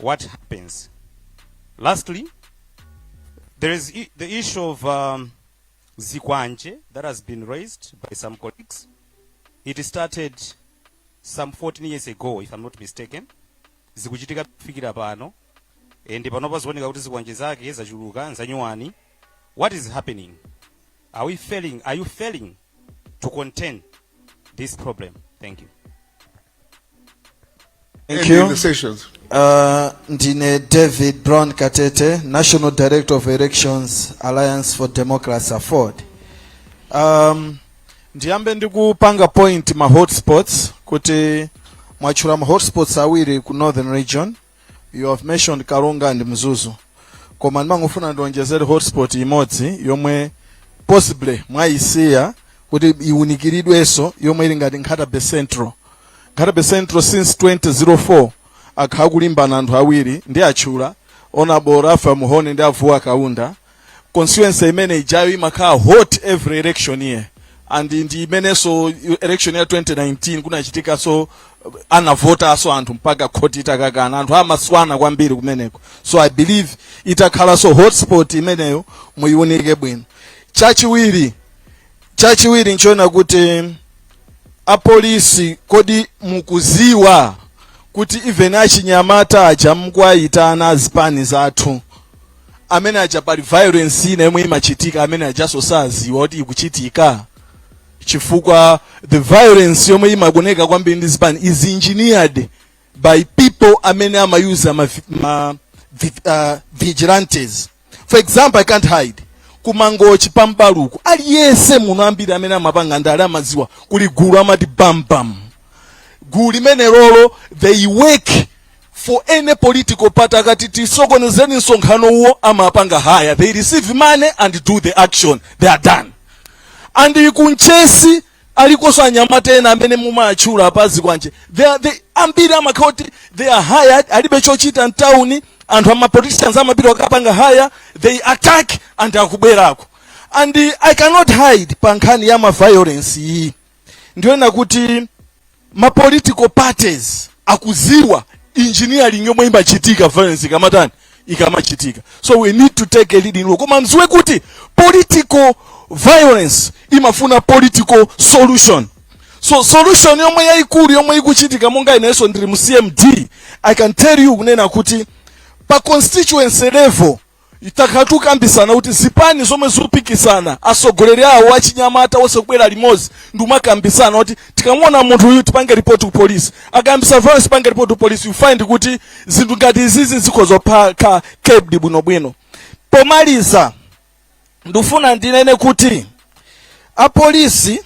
what happens. Lastly, there is i- the issue of um, Zikwanje that has been raised by some colleagues. It started some 14 years ago, if I'm not mistaken. Zikuchitika kufikira pano. And panopa zikuoneka kuti zikwanje zake zachuluka nzanyuwani. What is happening? Are we failing? Are you failing to contain this problem? Thank you. Thank you. the sessions. Uh, ndine David Brown Katete, National Director of Elections Alliance for Democracy AFORD. Um, ndiyambe ndikupanga point ma hotspots kuti mwatchula ma hotspots awiri ku Northern Region you have mentioned karonga and mzuzu koma ndimangofuna ndionjezere hotspot imodzi yomwe possibly mwaisiya kuti iwunikiridwenso yomwe ili ngati Nkhata Bay Central Nkhata Bay Central since 2004 akhala kulimbana anthu awiri ndiwatchula Honourable Ralph Mhone ndi a Vuwa Kaunda constituency imene ijayo imakhala hot every election year and ndi imenenso election ya 2019 kunachitikaso anavotaso anthu mpaka khoti itakakana anthu amaswana kwambiri kumeneko so i believe ikakhalanso hotspot imeneyo muiwunike bwino chachiwiri chachiwiri nchoona kuti apolisi kodi mukuziwa kuti even achinyamata aja mukuwaitana azipani zathu amene aja pali violence ina yomwe imachitika amene ajaso saziwa kuti ikuchitika chifukwa the violence yomwe imaoneka kwambiri ndi zipani is engineered by people amene amayuza ma, ma vi, uh, vigilantes for example i can't hide ku Mangochi pa M'baluku aliyense muno ambiri amene amapanga ndale amaziwa kuli gulu amati bam bam gulu limenelolo they work for any political party akati tisokonezeni msonkhano uwo amapanga hire they receive money and do the action they are done and ku Mchesi alikonso anyamata ena amene mumatchula a pazikwanje they are, they, ambiri amakhala kuti they are hired alibe chochita mtawuni anthu amapoliticians amapita akapanga hire they attack and akubwerako and uh, i cannot hide pa nkhani ya maviolence iyi ndikuona kuti ma political parties akuziwa engineering yomwe imachitika violence ikamatani ikamachitika so we need to take a leading role koma mziwe kuti political violence imafuna political solution so solution yomwe yaikulu yomwe ikuchitika monga inenso ndiri mu cmd i can tell you kunena kuti pa constituency level Takhala tikukambisana kuti zipani zomwe zikupikisana asogoleri awo achinyamata onse kubwera limozi ndiumakambisana kuti tikamuona munthu uyu tipange report ku police akambisa violence tipange report ku police you find kuti zinthu ngati izizi zikhoza kukhala kept bwinobwino pomaliza ndifuna ndinene kuti apolisi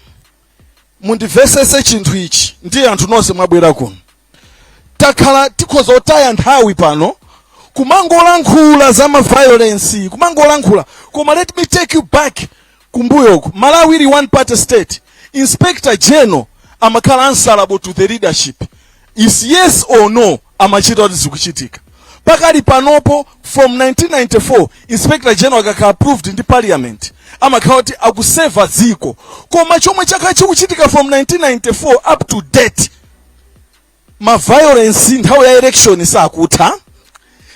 mundivesese chinthu ichi ndiye anthu nonse mwabwera kuno takhala tikhoza kutaya nthawi pano kumangolankhula za ma violence kumangolankhula koma let me take you back kumbuyoku malawi ili one party state inspector general amakhala answerable to the leadership his yes or no amachita kuti zikuchitika pakali panopo from 1994 inspector general akakhala approved ndi parliament amakhala kuti akuseva dziko koma chomwe chakhala chikuchitika from 1994 up to date ma violence nthawi ya election sakutha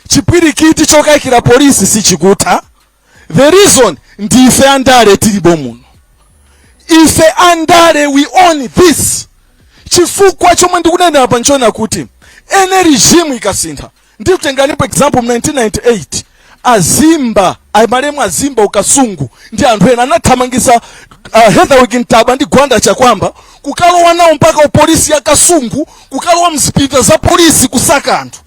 chipwirikiti chokayikira polisi sichikutha the reason ndi ife andale tilipo muno ife andale we own this chifukwa chomwe ndikunenera apa nchonena kuti any regime ikasintha Ndikutengeranipo example mu 1998 azimba amalemu azimba ukasungu ndi anthu ena anathamangisa uh, Heatherwick Ntaba ndi Gwanda Chakwamba kukalowa nawo mpaka upolisi ya Kasungu kukalowa mzipinda za polisi kusaka anthu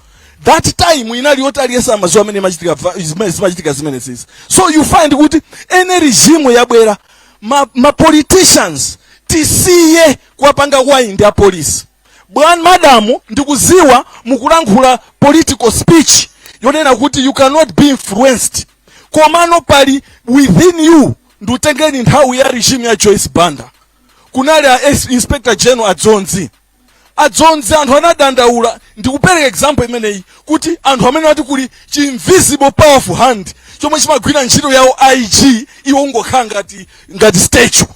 that time inali yoti aliyense amaziwa amene imachitika va- zimene- zimachitika zimene zizi so you find kuti any regime yabwera ma, ma politicians tisiye kuwapanga wind apolisi Bwana madam ndikuziwa mukulankhula political speech yonena kuti you cannot be influenced komano pali within you ndikutengeni nthawi ya regime ya Joyce Banda kunali a S- inspector general adzonzi adzonzi anthu anadandaula ndikupereka example imeneyi kuti anthu amene amati kuli chi invisible powerful hand chomwe chimagwira ntchito yawo IG iwo kungokhala ngati ngati statue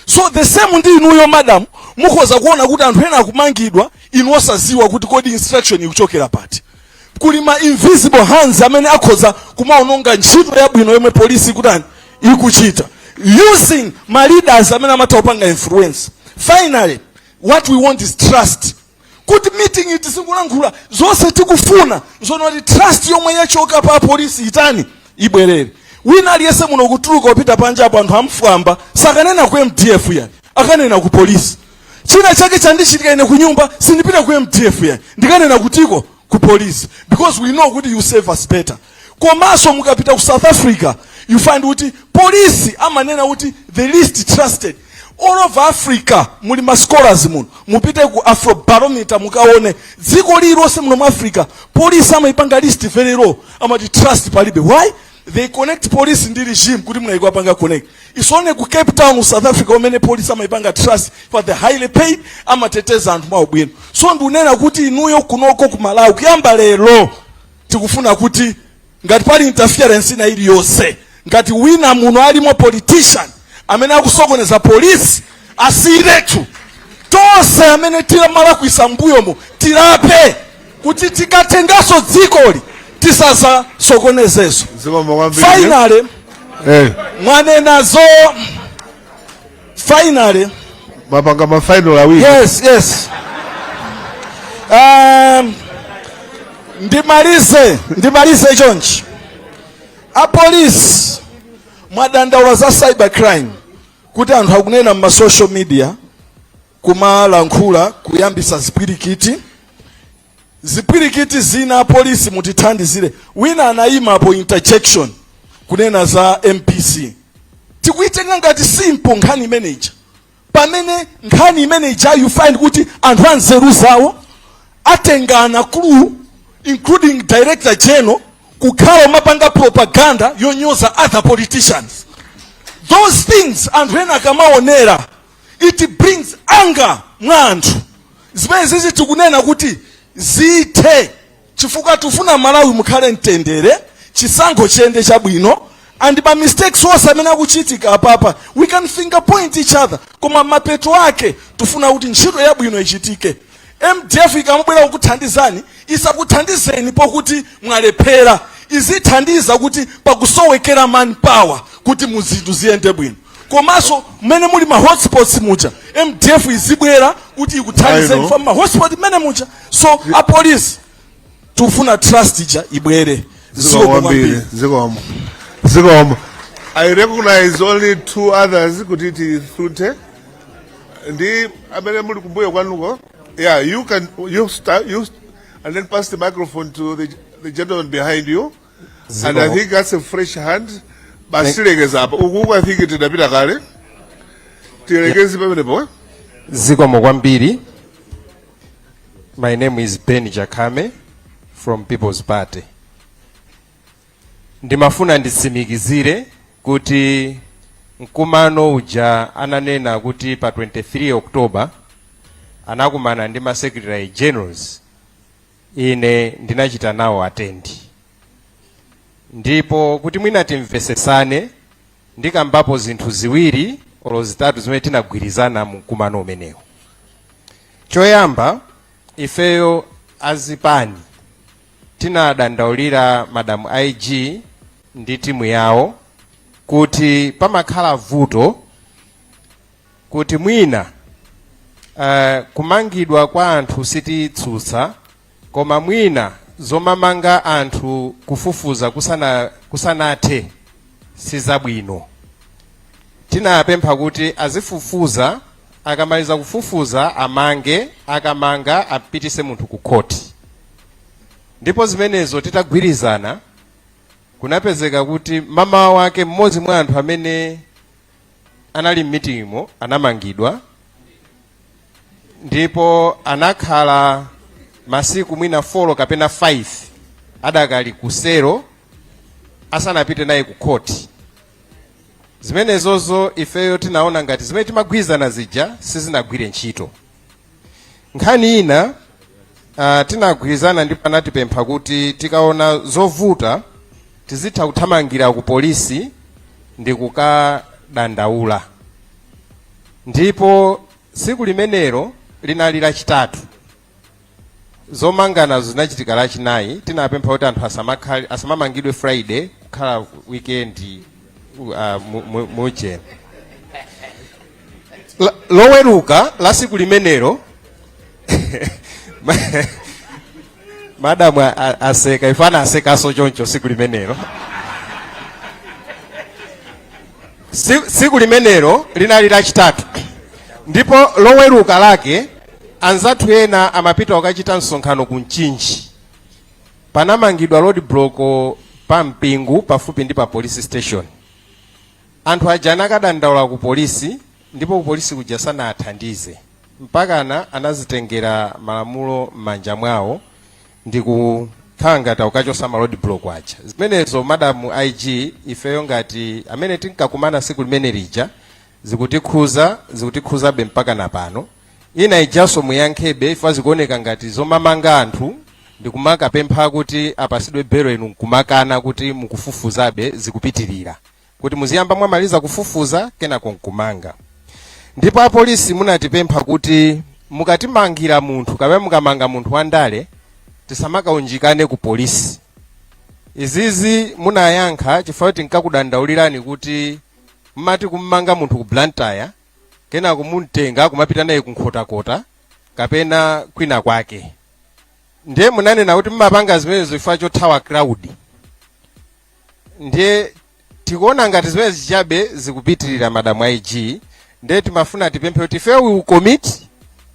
so the same ndi inuyo madam mukhoza kuona kuti anthu ena akumangidwa inu osaziwa kuti kodi instruction ikuchokera pati kuli ma invisible hands amene akhoza kumaononga ntchito yabwino yomwe polisi ikutani ikuchita using ma leaders amene amatha kupanga influence finally what we want is trust kuti meeting iyi tizingolankhula zonse tikufuna nzono kuti trust yomwe yachoka pa polisi itani ibwerere wina aliyense muno kutuluka kupita panja apo anthu amfwamba sakanena ku mdf yayi akanena ku polisi china chake chandichitika ine ku nyumba sindipita ku mdf yayi ndikanena kutiko ku polisi because we know kuti you serve us better komanso mukapita ku south africa you find kuti polisi amanena kuti the least trusted all over africa muli ma scholars muno mupite ku afrobarometer mukaone dziko lililonse muno mu africa polisi amaipanga list very low amati trust palibe why they connect police ndi regime kuti mmayiko apanga connect it's only ku cape town mu south africa umene police amaipanga trust for they're highly paid amateteza anthu mwaubwino so ndikunena kuti inuyo kunoko ku malawi kuyamba lero tikufuna kuti ngati pali interference ina iliyonse ngati wina muno alimo politician amene akusokoneza polisi asiyiretu tonse amene timalakwisa mbuyomo tilape kuti tikatengaso dzikoli tisazasokonezeso Zikomo kwambiri. finally mwanenazo finally mwapanga ma final awiri yes yes um, ndimalize ndimalize chonchi apolisi mwadandaula za cyber crime kuti anthu akunena mma social media kumalankhula kuyambisa zipwirikiti zipwirikiti zina apolisi mutithandizire wina anayimapo interjection kunena za mbc tikuitenga ngati simple nkhani imeneja pamene nkhani imeneja you find kuti anthu anzeru zawo atengana crew including director general kukhala kumapanga propaganda yonyoza other politicians those things anthu ena akamaonera it brings anger mwa anthu zimene zizi tikunena kuti zithe chifukwa tifuna malawi mukhale mtendere chisankho chiyende chabwino and ma mistakes onse amene akuchitika apapa we can finger point each other koma mapeto ake tifuna kuti ntchito yabwino ichitike mdf ikamubwera kukuthandizani isakuthandizeni pokuti mwalephera izithandiza kuti pakusowekera manpower kuti muzinthu ziyende bwino komanso mmene muli ma hotspots muja mdf izibwera kuti ikuthandizeni mma hotspot mmenemuja so apolisi tikufuna trust ija ibwere zikomo kwambiri zikomo zikomo i recognize only two others kuti titseke ndi amene muli kumbuyo kwanuko yeah you can you start you and then pass the microphone to the, the gentleman behind you and i think that's a fresh hand basi tilekeza apa ukuku i think tidapita kale tilekeze pamenepo eh? zikomo kwambiri my name is ben chakhame from people's party ndimafuna nditsimikizire kuti mkumano uja ananena kuti pa 23 october anakumana ndi ma secretary generals ine ndinachita nawo attend ndipo kuti mwina timvesesane ndikambapo zinthu ziwiri olo zitatu zimene tinagwirizana mu mkumano umenewo choyamba ifeyo azipani tinadandaulira madam ig ndi timu yawo kuti pamakhala vuto kuti mwina uh, kumangidwa kwa anthu sititsutsa koma mwina zomamanga anthu kufufuza kusanathe sizabwino tinapempha kuti azifufuza akamaliza kufufuza amange akamanga apitise munthu ku khoti ndipo zimenezo titagwirizana kunapezeka kuti mama wake mmodzi mwa anthu amene anali m'mitingimo anamangidwa ndipo anakhala masiku mwina 4 kapena 5 adakali kusero asanapite naye ku khoti zimenezozo ifeyo tinaona ngati zimene timagwirizana zija sizinagwire ntchito nkhani ina uh, tinagwirizana ndipo anatipempha kuti tikaona zovuta tizitha kuthamangira ku polisi ndi kukadandaula ndipo tsiku limenelo linali lachitatu zomanganazo zinachitika lachinayi tinapempha kuti anthu asamakhale asamamangidwe friday kukhala weekend uh, mu- mu- mujeni La- loweruka la siku limenelo ma- madamu a- a- aseka ife tinasekanso choncho siku limenelo Si- siku limenelo linali lachitatu ndipo loweruka lake Anzathu ena amapita kukachita msonkhano ku Mchinji. Panamangidwa roadblock pa Mpingu pafupi ndi pa police station. Anthu aja anakadandaula ku polisi ndipo ku polisi kuja sanawathandize. Mpakana anazitengera malamulo m'manja mwawo ndi kukhala ngati akukachosa ma roadblock aja. Zimenezo Madam IG ifeyo ngati amene tinkakumana tsiku limene lija zikutikhuza, zikutikhuzabe mpakana pano. ina ijanso muyankhebe chifukwa zikuoneka ngati zomamanga anthu ndikumakapempha kuti apasidwe belo inu nkumakana kuti mukufufuzabe zikupitirira kuti muziyamba mwamaliza kufufuza kenako nkumanga ndipo apolisi munatipempha kuti mukatimangira munthu kapena mukamanga munthu wandale tisamakaunjikane ku polisi izizi munayankha chifukwa tinkakudandaulirani kuti mmati kummanga munthu ku blantyre kenako mumtenga kumapita naye ku Nkhotakota kapena kwina kwake. Ndiye munanena kuti mumapanga zimenezo chifukwa chothawa crowd. Ndiye tikuona ngati zimenezi chabe zikupitirira madamu a IG ndiye timafuna tipemphe kuti ife we will commit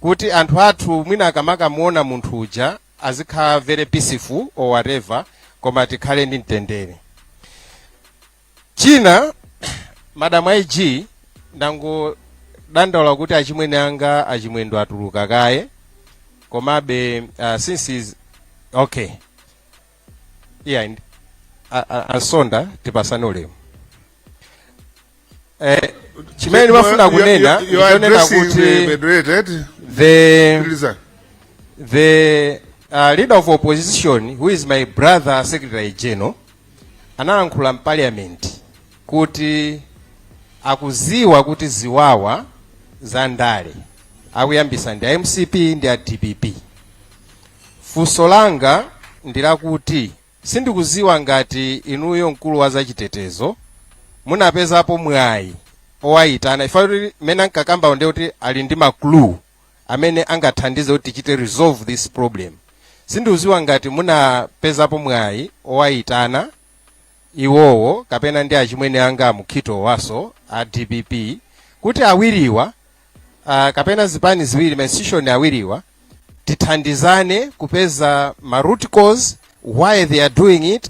kuti anthu athu mwina akamakamuona munthu uja azikhala very peaceful or whatever koma tikhale ndi mtendere china madam ig ndangodandaula kuti achimwene anga achimwendo atuluka kaye komabe uh, since is okay yeah and, a- a- ansonda tipasane ulemu eh, chimene ndimafuna You- you- kunena you- you are ndi chonena addressing kuti the moderator, eti? the Lisa. the uh, leader of opposition who is my brother secretary general analankhula m'paliyamenti kuti akuziwa kuti ziwawa za ndale akuyambisa ndi a mcp ndi a dpp funso langa ndilakuti sindikuziwa ngati inuyo mkulu wa zachitetezo munapezapo mwayi owayitana if at all kuti mmene ankakambawo ndiye kuti ali ndi ma clue amene angathandize kuti tichite resolve this problem sindikuziwa ngati munapezapo mwayi owayitana iwowo kapena ndi achimwene anga amukhito waso a dpp kuti awiriwa uh, kapena zipani ziwiri mainstitution awiriwa tithandizane kupeza ma root cause why they are doing it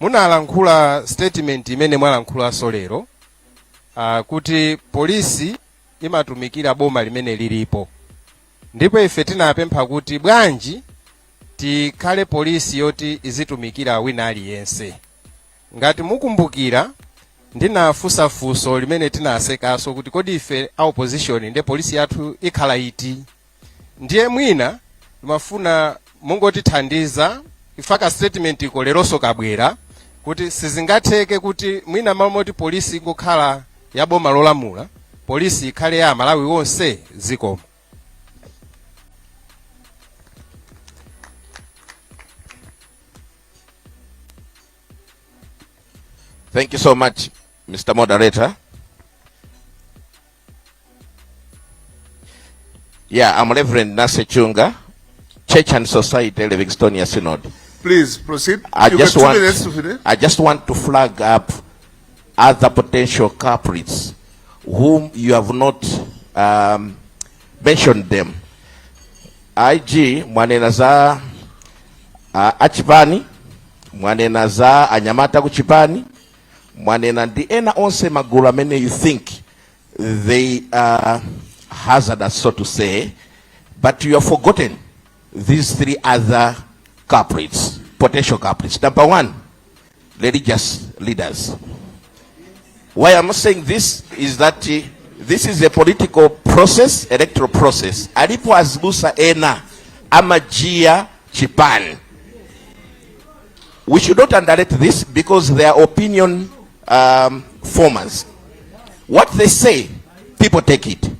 Munalankhula statement imene mwalankhulanso lero uh, kuti polisi imatumikira boma limene lilipo ndipo ife tinapempha kuti bwanji tikhale polisi yoti izitumikira wina aliyense. Ngati mukumbukira ndinafunsa funso limene tinasekaso kuti kodi ife a opposition nde polisi yathu ikhala iti? ndiye mwina ndimafuna mungotithandiza if at all ka statement iko leronso kabwera kuti sizingatheke kuti mwina m'malo moti polisi ingokhala ya boma lolamula polisi ikhale ya amalawi onse zikomo Thank you so much, Mr. Moderator. Yeah, I'm Reverend Nase Chunga, Church and Society, Livingstonia Synod. Please proceed. I you just want, to I just want to flag up other potential culprits whom you have not um, mentioned them. IG mwanena za uh, achipani mwanena za anyamata kuchipani mwanena ndi ena onse magulu amene you think they are hazardous so to say but you have forgotten these three other culprits potential culprits number one religious leaders why i'm saying this is that uh, this is a political process electoral process alipo azibusa ena amajia chipani We should not underrate this because they are opinion um, formers. What they say, people take it.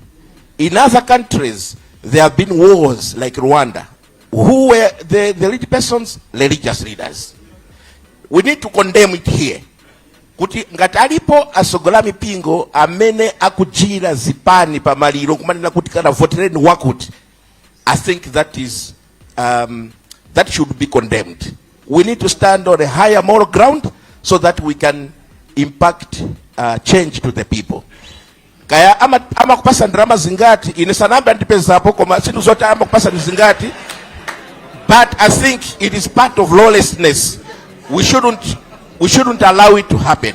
In other countries, there have been wars like Rwanda. Who were the, the lead persons? Religious leaders. We need to condemn it here. kuti ngati alipo asogola mipingo amene akujira zipani pamaliro kumanena kuti kana votereni wakuti I think that is um, that should be condemned. We need to stand on a higher moral ground so that we can impact uh, change to the people. Kaya ama, ama kupasa ndrama zingati ine sanamba ndipeza hapo koma situ zote ama kupasa ni zingati but I think it is part of lawlessness we shouldn't we shouldn't allow it to happen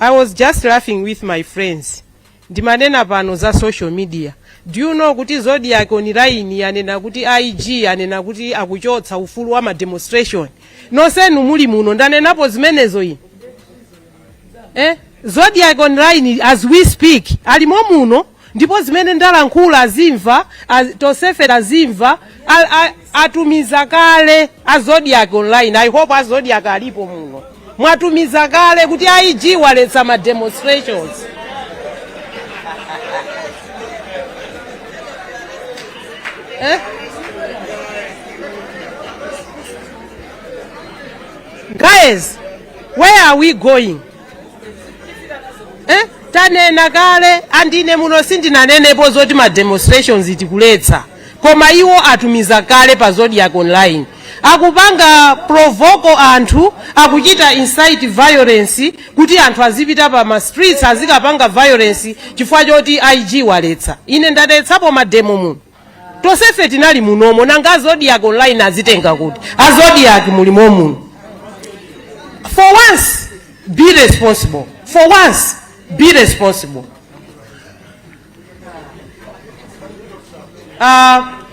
i was just laughing with my friends ndimanena pano za social media do you know kuti zodiak online yanena kuti ig anena kuti akuchotsa ufulu wa mademonstration nonsenu muli muno ndanenapo zimenezo ine eh? zodiak online as we speak alimo muno ndipo zimene ndalankhula azimva az, tonsefe tazimva a- a- atumiza kale a zodiak online i hope a zodiak alipo muno mwatumiza kale kuti a ig aletsa ma demonstrations eh? guys where are we going eh? tanena kale andine muno sindinanenepo zoti ma demonstrations tikuletsa koma iwo atumiza kale pa Zodiak online akupanga provoke anthu akuchita incite violence kuti anthu azipita pa ma streets azikapanga violence chifukwa choti ig waletsa ine ndaletsapo mademo muno tosefe tinali munomo nanga azodiac online azitenga kuti azodiac muli momuno for once be responsible for once be responsible uh,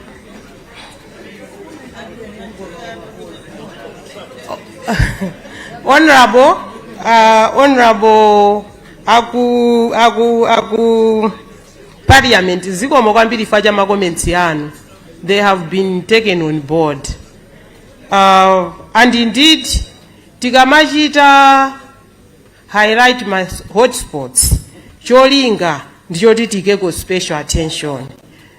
honorable uh, honorable aku aku aku parliament zikomo kwambiri chifukwa cha ma comments anu they have been taken on board uh, and indeed tikamachita highlight ma hotspots cholinga ndichoti tikeko special attention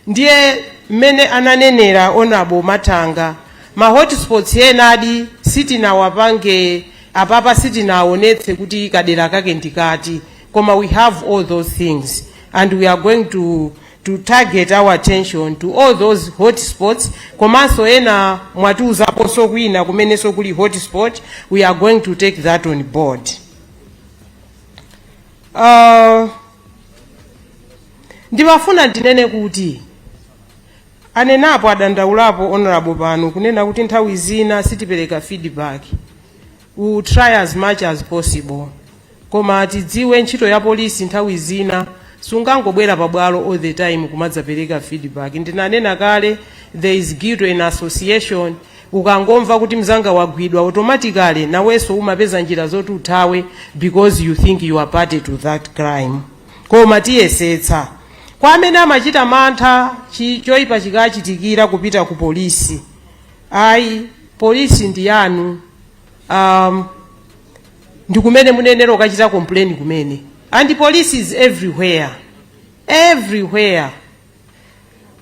ndiye mmene ananenera honorable matanga ma hotspots enadi sitinawapange apapa sitinaonetse kuti kadera kake ndikati koma we have all those things and we are going to, to target our attention to all those hotspots komanso ena mwatiuzaponso kwina kumenenso kuli hotspot we are going to take that on board uh, ndimafuna ndinene kuti anenapo adandaulapo honorable pano kunena kuti nthawi zina sitipereka feedback will try as much as possible koma tidziwe ntchito ya polisi nthawi zina sungangobwera pabwalo all the time kumadzapereka feedback ndinanena kale there is guilt in association ukangomva kuti mzanga wagwidwa automatically naweso umapeza njira zoti uthawe because you think you are party to that crime koma tiyesetsa kwa amene amachita mantha chi- choipa chikachitikira kupita ku polisi ayi polisi ndi yanu um, ndi kumene muyenera kukachita complain kumene and police is everywhere everywhere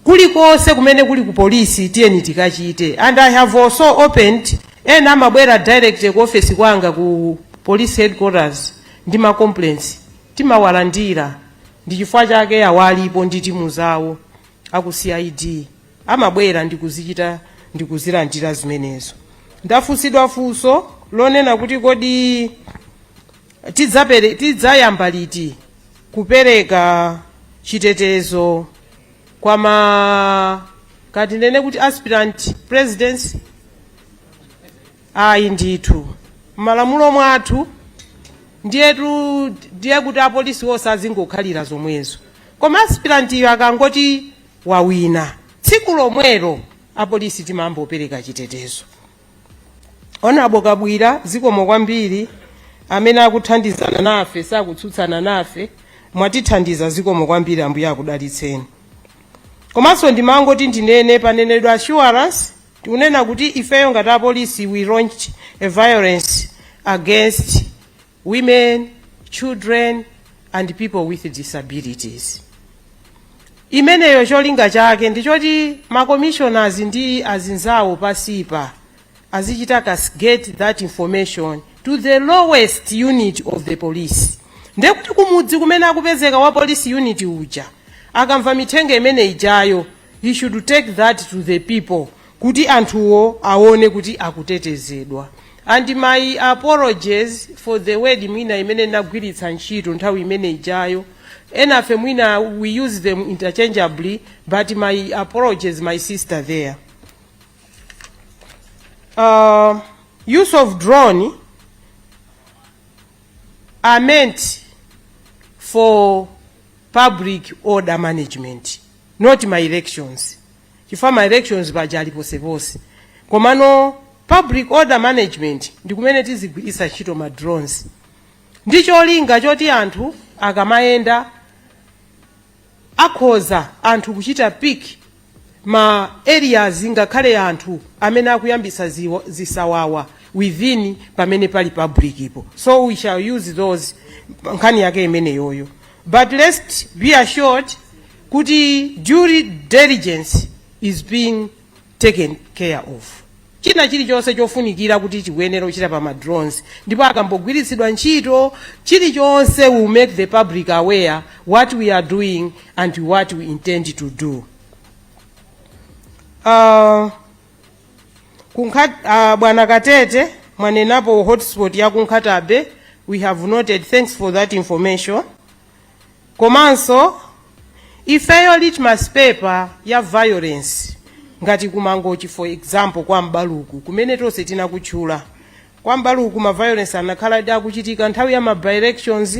kulikonse kumene kuli ku polisi tiyeni tikachite and i have also opened ena amabwera direct ku office kwanga ku police headquarters ndi ma complaints timawalandira ndi chifukwa chake awalipo ndi timu zawo aku cid amabwera ndi kuzichita ndi kuzilandira zimenezo ndafunsidwa funso lonena kuti kodi tidzapere- tidzayamba liti kupereka chitetezo kwa ma ka tinene kuti aspirant presidency ayi ndithu malamulo mwathu ndiyetu ndiye kuti apolisi onse azingokhalira zomwezo koma aspirant yo akangoti wawina tsiku lomwelo apolisi timayambapo kupereka chitetezo. Honorable Kabwira zikomo kwambiri amene akuthandizana nafe sakutsutsana nafe mwatithandiza zikomo kwambiri ambuye akudalitseni komanso ndimangoti ndinene panenedwa assurance tikunena kuti ifeyo ngati apolisi we launched a violence against women, children and people with disabilities. Imeneyo cholinga chake ndi choti ma commissioners ndi azinzawo pasipa azichita cascade that information to the lowest unit of the police. Ndiye kuti kumudzi kumene akupezeka wa police unit uja akamva mithenga imene ijayo he should take that to the people kuti anthuwo awone kuti akutetezedwa and my apologies for the word mwina imene nagwiritsa ntchito nthawi imene ijayo enafe mwina we use them interchangeably but my apologies my sister there uh, use of drone are meant for public order management not my elections chifukwa ma elections paja ali poseponse komano public order management ndi kumene tizigwiritsa ntchito ma drones ndi cholinga choti anthu akamayenda akhoza anthu kuchita pick ma areas ngakhale anthu amene akuyambitsa ziwo- zisawawa within pamene pali public ipo so we shall use those nkhani yake imeneyoyo but let's be assured kuti due diligence is being taken care of china chilichonse chofunikira kuti chikuyenera kuchita pa madrones ndipo akambogwiritsidwa ntchito chilichonse we'll make the public aware what we are doing and what we intend to do uh, kunkha, uh, bwana katete mwanenapo hotspot ya ku Nkhata Bay we have noted thanks for that information komanso ifeyo litmus paper ya violence ngati ku Mangochi for example kwa M'baluku kumene tonse tinakutchula kwa M'baluku ma violence anakhaladi akuchitika nthawi ya ma by-elections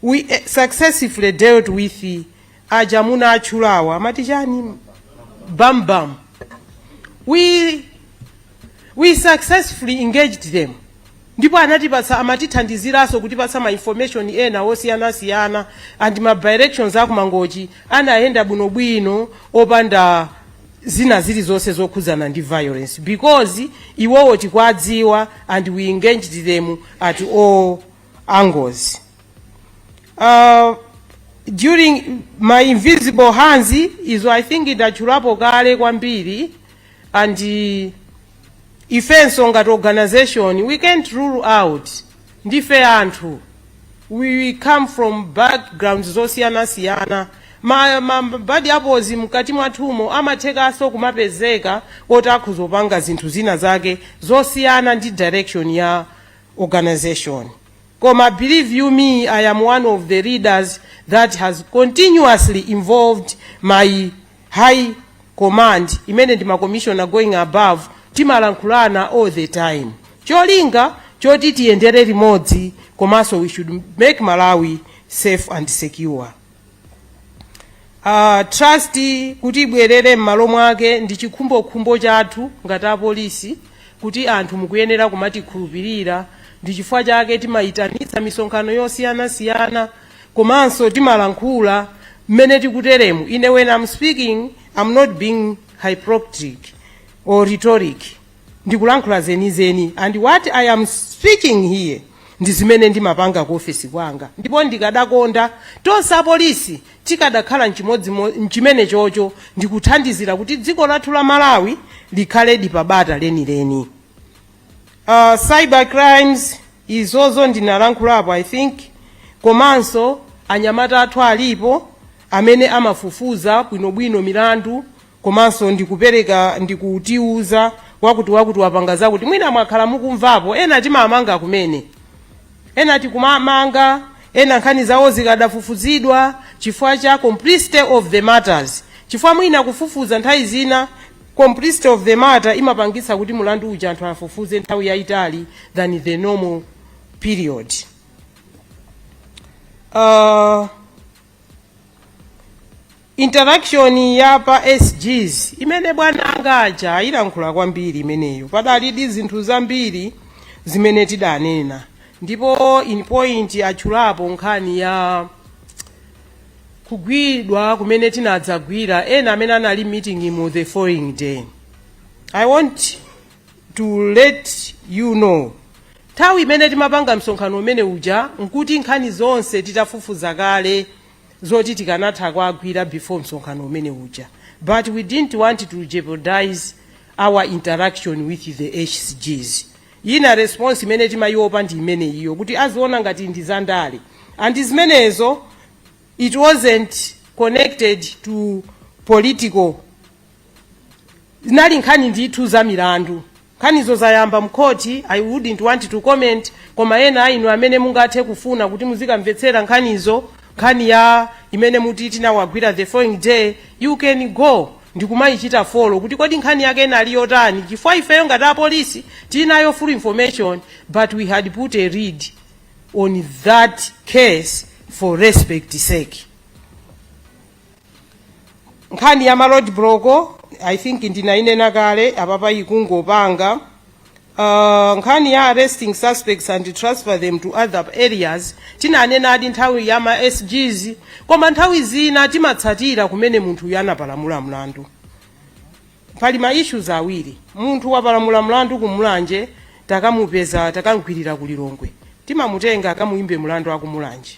we eh, successively dealt with aja amuna atchulawa amati chani bambam we we successfully engaged them ndipo anatipatsa amatithandiziranso kutipatsa ma information ena osiyanasiyana and ma by-elections aku mangochi anayenda bwinobwino opanda zina zilizonse zokhudzana ndi violence because iwowo tikwadziwa and we engaged them at all angles uh, during my invisible hands izo i think ndatchulapo kale kwambiri and uh, ifenso ngati organization we can't rule out ndife anthu we come from backgrounds zosiyanasiyana ma, ma bad apples mkati mwathumo amathekanso kumapezeka oti akhozo panga zinthu zina zake zosiyana ndi direction ya organization koma believe you me i am one of the leaders that has continuously involved my High command imene ndi ma commissioner going above timalankhulana all the time cholinga choti tiyendere limodzi komanso we should make malawi safe and secure uh, trust kuti ibwerere m'malo mwake ndi chikhumbokhumbo chathu ngati apolisi kuti anthu mukuyenera kumatikhulupirira ndi chifukwa chake timayitanitsa misonkhano yosiyanasiyana komanso timalankhula mmene tikuteremu ine when i'm speaking i'm not being hypocritic or rhetoric ndikulankhula zenizeni and what i am speaking here ndi zimene ndimapanga ku ofesi kwanga ndipo ndikadakonda tonse apolisi tikadakhala mchimodzimo- mchimene chocho ndikuthandizira kuti dziko lathu la malawi likhale ndi bata lenileni uh, cyber crimes izozo ndinalankhulapo i think komanso anyamata athu alipo amene amafufuza bwinobwino milandu komanso ndikupereka ndikutiuza wakuti wakuti wapanga zakuti mwina mwakhala mukumvapo ena timamanga kumene ena tikumamanga ena nkhani zawo zikadafufuzidwa chifukwa cha complexity of the matters chifukwa mwina kufufuza nthawi zina complexity of the matter imapangitsa kuti mulandu uja anthu afufuze nthawi yayitali than the normal period uh, interaction ya pa sgs imene bwana anga aja ayilankhula kwambiri imeneyo padalidi zinthu zambiri zimene tidanena ndipo in point atchulapo nkhani ya kugwidwa kumene tinadzagwira ena amene anali m'meeting mo the following day i want to let you know nthawi imene timapanga msonkhano umene uja nkuti nkhani zonse titafufuza kale zoti tikanatha kwagwira before msonkhano umene uja but we didn't want to jeopardize our interaction with the sgs Ina response imene timayiopa ndi imeneyiyo kuti aziona ngati ndi za ndale and zimenezo it wasn't connected to political zinali nkhani ndithu za milandu. Nkhanizo zayamba mkhoti I wouldn't want to comment koma ena a inu amene mungathe kufuna kuti muzikamvetsera nkhanizo nkhani ya imene muti tinawagwira the following day you can go. ndikumayichita follow kuti kodi nkhani yake inali yotani chifukwa ifeyo ngati apolisi tili nayo full information but we had put a lid on that case for respect sake nkhani ya ma road block i think ndinayinena kale apapa ikungopanga Uh, nkhani ya arresting suspects and transfer them to other areas tinanenadi nthawi ya ma sgs koma nthawi zina timatsatira kumene munthuyu anapalamula mlandu pali ma issues awiri munthu wapalamula mlandu ku Mulanje takamupeza takamgwirira ku Lilongwe timamutenga akamuyimbe mlandu a ku Mulanje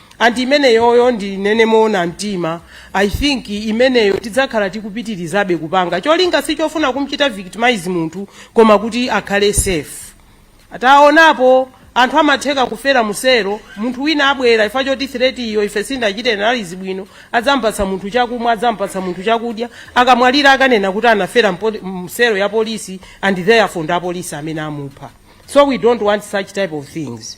and imeneyoyo ndinene moona mtima i think imeneyo tidzakhala tikupitirizabe kupanga cholinga sichofuna kumchita victimize munthu koma kuti akhale safe taonapo anthu amatheka kufera mu selo munthu wina abwera chifukwa choti threat iyo ife sitinachite analyse bwino adzampatsa munthu chakumwa adzampatsa munthu chakudya akamwalira akanena kuti anafera mpo- mu selo ya polisi and therefore ndi apolisi amene amupha so we don't want such type of things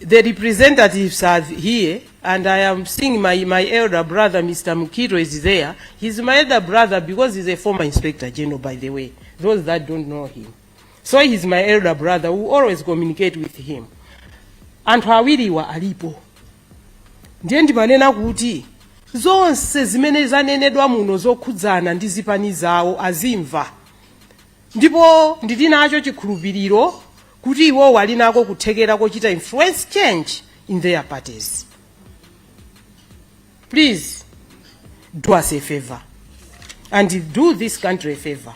The representatives are here, and I am seeing my, my elder brother, Mr. Mukito, is there. He's my elder brother because he's a former inspector general, by the way, those that don't know him. So he's my elder brother. We always communicate with him. Anthu awiriwa alipo. Ndiye ndimanena kuti zonse zimene zanenedwa muno zokhudzana ndi zipani zawo azimva. Ndipo ndili nacho chikhulupiriro kuti iwowo ali nako kuthekera kochita influence change in their parties please do us a favor and do this country a favor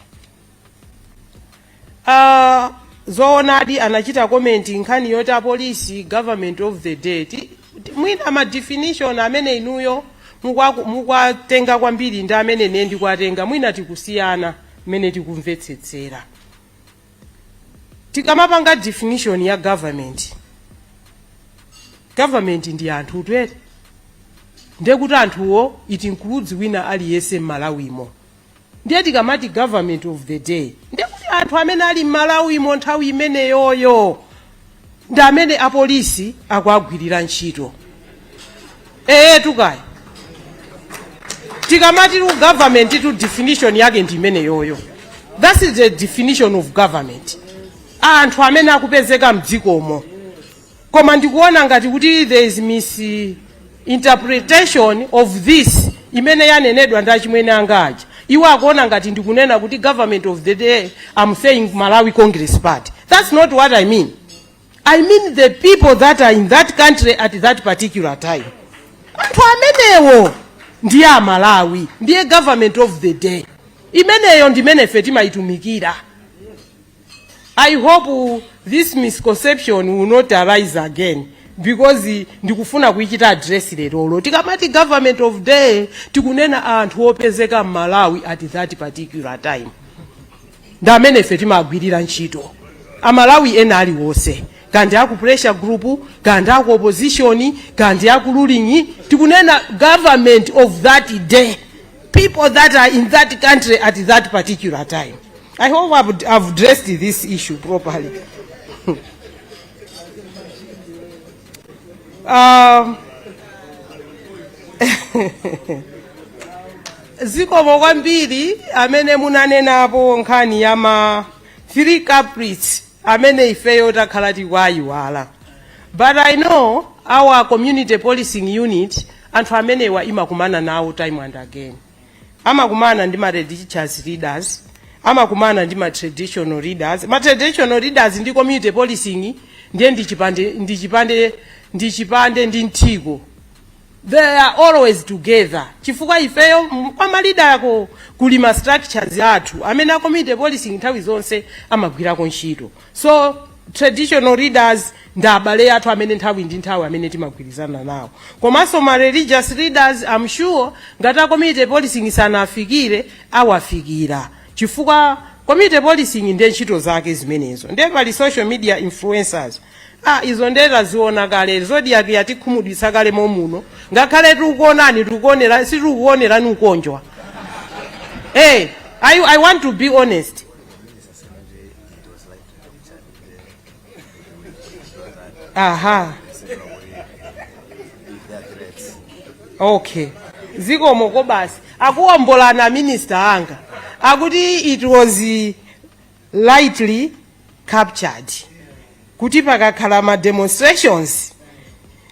uh, zoonadi anachita comment nkhani yoti apolisi government of the day Ti- ti- mwina ma definition amene inuyo mukwa- mukwatenga kwambiri ndi amene ine ndikwatenga mwina tikusiyana mmene tikumvetsetsera tikamapanga definition ya government government ndi anthu eti ndiye kuti anthuwo it includes wina aliyense m'Malawimo ndiye tikamati government of the day ndiye kuti anthu amene ali m'Malawimo nthawi imeneyoyo ndi amene apolisi akuagwirira ntchito ee tikaya tikamati government definition yake ndi imeneyoyo that is the definition of government anthu amene akupezeka mdzikomo koma ndikuona ngati kuti there is mis interpretation of this imene yanenedwa ndi achimwene anga aja iwo akuona ngati ndikunena kuti government of the day I'm saying malawi congress party that's not what i mean i mean the people that are in that country at that particular time anthu amenewo ndiye amalawi ndiye government of the day imeneyo ndimene ife timayitumikira I hope this misconception will not arise again because ndikufuna kuichita address lerolo tikamati government of day tikunena anthu opezeka m'malawi at that particular time ndi amene ife timagwirira ntchito amalawi ena aliwonse kaya ndi aku pressure group kaya ndi aku opposition kaya ndi aku ruling tikunena government of that day people that are in that country at that particular time. I hope I've, I've addressed this issue properly. um, zikomo kwambiri amene munanenapo nkhani ya ma three culprits amene ifeyo takhala tikuwaiwala but i know our community policing unit Anthu amenewa imakumana nawo time and again. Amakumana ndi ma religious leaders, amakumana ndi ma traditional leaders. Ma traditional leaders ndi community policing ndiye ndi chipande ndi mthiko. They are always together. Chifukwa ifeyo m- kuma leader ako kuli ma structures athu amene a community policing nthawi zonse amagwirako ntchito. so traditional leaders ndi abale athu amene nthawi ndi nthawi amene timagwirizana nawo komanso ma religious leaders I'm sure ngati a community policing sanafikire awafikira chifukwa community policing ndiye ntchito zake zimenezo ndiye pali social media influencers ah izo ndiye taziona kale zodiak yatikhumudwitsa kale momuno ngakhale tikuonani tikuonera sitikuonerani kukondwa hey I, i want to be honest aha okay zikomo koma basi akuwombola a minister anga akuti it was eh, rightly captured kuti pakakhala ma demonstrations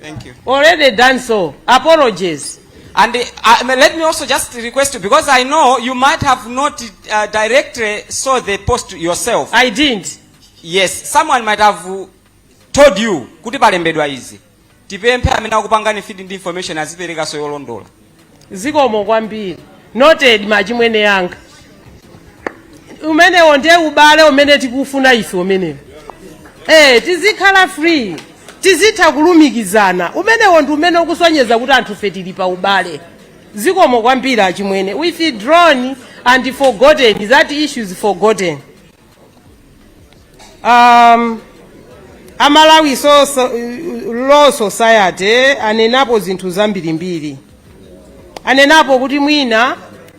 Thank you. already done so apologies And uh, I mean, let me also just request you, because I know you might have not uh, directly saw the post yourself. i didn't Yes, someone might have uh, told you kuti palembedwa izi. Tipemphe amene akupangani feed ndi information azipereka so yolondola. zikomo kwambiri noted machimwene yanga umenewo ndiye ubale umene tikufuna ife umenewo eh tizikhala free tizitha kulumikizana umenewo ndi umene ukusonyeza kuti anthu fe tili pa ubale zikomo kwambiri achimwene withdrawn and forgotten that issue is forgotten um, a malawi so, so, law society anenapo zinthu zambirimbiri anenapo kuti mwina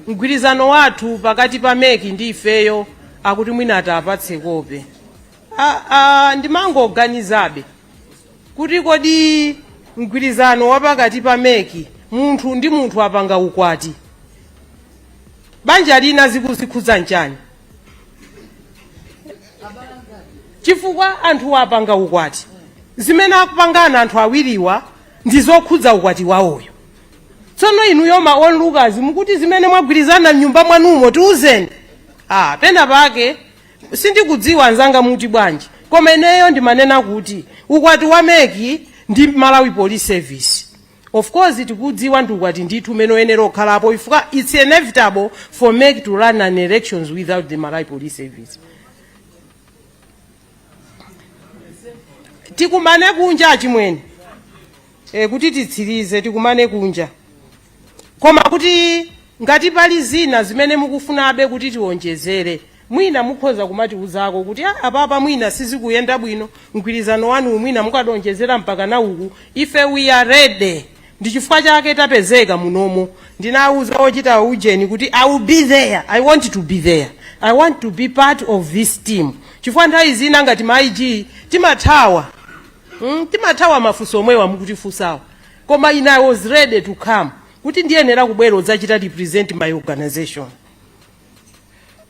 mgwirizano wathu pakati pa meki ndi ifeyo akuti mwina atipatse kope A- a- ndimangoganizabe kuti kodi mgwirizano wa pakati pa meki munthu ndi munthu apanga ukwati banja lina zikuzikhudza nchani chifukwa anthu apanga ukwati zimene akupangana anthu awiriwa ndi zokhudza ukwati wawoyo tsono inuyo ma onlookers mukuti zimene mwagwirizana mnyumba mwanumo tiuzeni ah, pena pake sindikudziwa anzanga muti bwanji koma ineyo ndimanena kuti ukwati wa meki ndi malawi police service Of course tikudziwa ndi ukwati ndithu umene uyenera kukhalapo chifukwa its inevitable for mec to run an elections without the malawi police service tikumane kunja achimwene e, kuti titsirize tikumane kunja koma kuti ngati pali zina zimene mukufunabe kuti tiwonjezere Mwina mukhoza kumatiuzako kuti ah apapa mwina sizikuyenda bwino mgwirizano wanu mwina mukadaonjezera mpakana uku ife we are ready ndichifukwa chake tapezeka munomo ndinauza ochita ujeni kuti i will be there i want to be there i want to be part of this team chifukwa nthawi zina ngati ma ig timathawa mm, timathawa mafunso omwewa mukutifunsawa koma ine i was ready to come kuti ndiyenera kubwera kudzachita represent my organization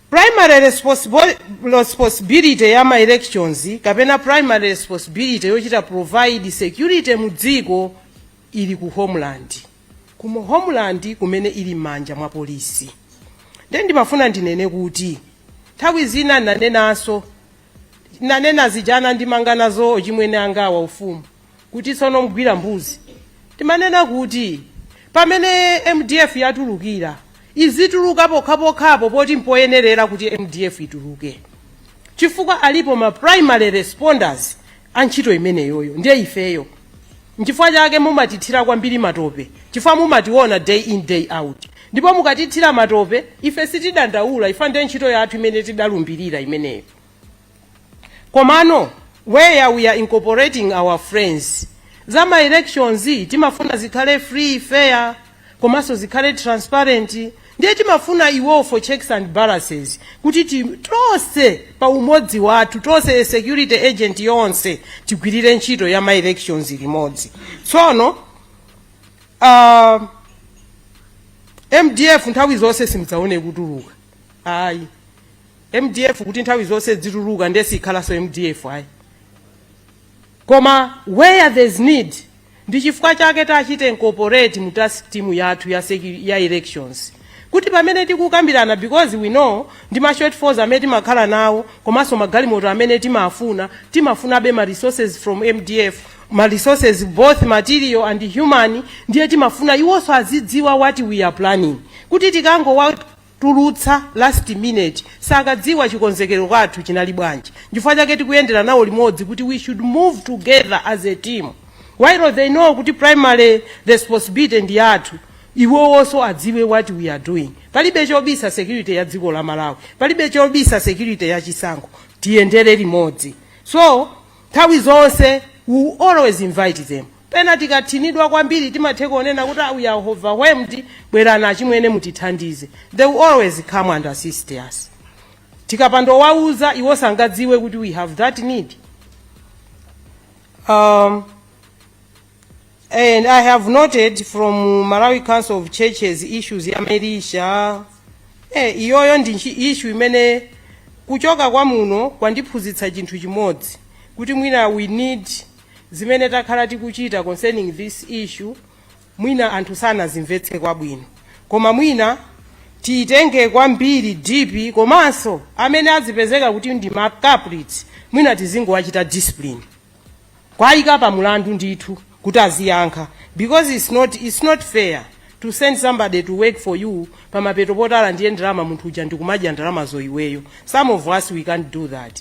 primary responsible- responsibility ya ma elections kapena primary responsibility yochita provide security mu dziko ili ku homeland kumo homeland kumene ili m'manja mwa polisi nde ndimafuna ndinene kuti nthawi zina nanenanso nanena zijana ndimangana zochimwene anga wa ufumu kuti tsono mgwira mbuzi timanena kuti pamene mdf yatulukira izituluka pokhapokhapo poti mpoyenerera kuti mdf ituluke chifukwa alipo ma primary responders a ntchito imeneyoyo ndiye ifeyo nchifukwa chake mumatithira kwambiri matope chifukwa mumationa day in day out ndipo mukatithira matope ife sitidandaula chifukwa ndiye ntchito yathu imene tidalumbirira imeneyo komano where we are incorporating our friends za ma elections timafuna zikhale free fair komanso zikhale transparent ndiye timafuna iwo for checks and balances kuti ti- tonse pa umodzi wathu tonse a security agent yonse tigwirire ntchito ya ma elections limodzi tsono uh, mdf nthawi zonse simudzaone kutuluka ayi mdf kuti nthawi zonse dzituluka ndiye sikhalanso mdf ayi koma where there's need ndi chifukwa chake tachite incorporate mu task team yathu ya, secu- ya elections kuti pamene tikukambirana because we know ndi ma shortfalls amene timakhala nawo komanso magalimoto amene timafuna timafunabe ma resources from mdf ma resources both material and human ndiye timafuna iwonso azidziwa what we are planning kuti tikangowa tulutsa last minute sakadziwa chikonzekero kwathu chinali bwanji nchifukwa chake tikuyendera nawo limodzi kuti we should move together as a team while they know kuti primary responsibility ndi yathu iwowonso adziwe what we are doing palibe chobisa security ya dziko la malawi palibe chobisa security ya chisankho tiyendere limodzi so nthawi zonse we will always invite them Pena tikathinidwa kwambiri timatheko kunena kuti ah we are overwhelmed bwerani achimwene mutithandize they will always come and assist us. Tikapanda kuwauza iwo sangadziwe kuti we have that need. Um, and I have noted from Malawi Council of Churches issues ya militia eh, iyoyo ndi nchi- issue imene kuchoka kwa muno kwandiphunzitsa chinthu chimodzi kuti mwina we need Zimene takhala tikuchita concerning this issue mwina anthu sanazimvetse kwabwino koma mwina tiyitenge kwambiri deep komanso amene azipezeka kuti ndi ma culprits mwina tizingowachita discipline kwayika pa mulandu ndithu kuti aziyankha because it's not, it's not fair to send somebody to work for you pamapeto potala ndi ndalama munthu uja ndikumadya ndalamazo iweyo some of us we can't do that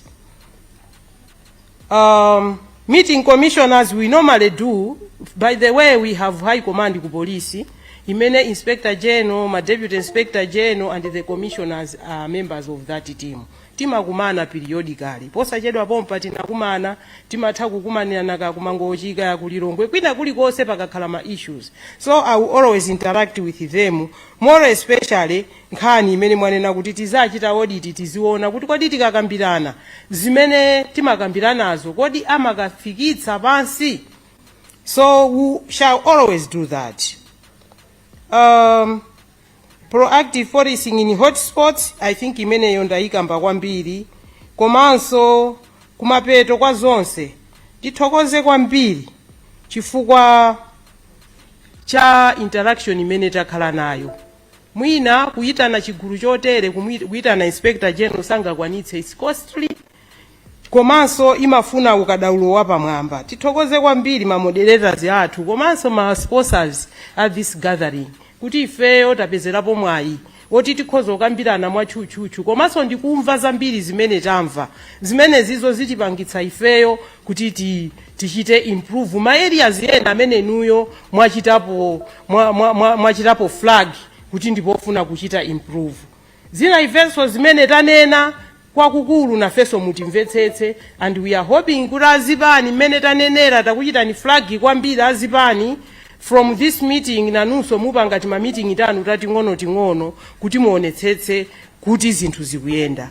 um, meeting commissioners we normally do by the way we have high command ku police imene inspector general ma deputy inspector general and the commissioners are members of that team timakumana periodically posachedwa pompa tinakumana timatha kukumanirana kakumangochika yakulilongwe kwina kulikonse pakakhala ma issues so i will always interact with them more especially nkhani imene mwanena kuti tizachita audit tiziona kuti kodi tikakambirana zimene timakambiranazo kodi amakafikitsa pansi so we shall always do that um, proactive policing in hotspots i think imeneyo ndayikamba kwambiri komanso kumapeto kwa zonse tithokoze kwambiri chifukwa cha interaction imene takhala nayo Mwina kuyitana chigulu chotere kuyitana Inspector General sangakwanitse it's costly komanso imafuna ukadaulo wapamwamba. Tithokoze kwambiri ma moderators athu komanso ma sponsors a this gathering kuti ifeyo tapezerapo mwayi oti tikhoza kukambirana mwatchutchutchu komanso ndikumva zambiri zimene tamva zimenezizo zitipangitsa ifeyo kuti ti, tichite improve ma areas ena amene inuyo mwachitapo mwa, mwa, mwa, mwachitapo flag kuti ndipofuna kuchita improve zina ifenso zimene tanena kwakukulu nafenso mutimvetsetse and we are hoping kuti azipani mmene tanenera takuchitani flag kwambiri azipani from this meeting nanunso mupanga timamitingi tanu tating'onoting'ono kuti muonetsetse kuti zinthu zikuyenda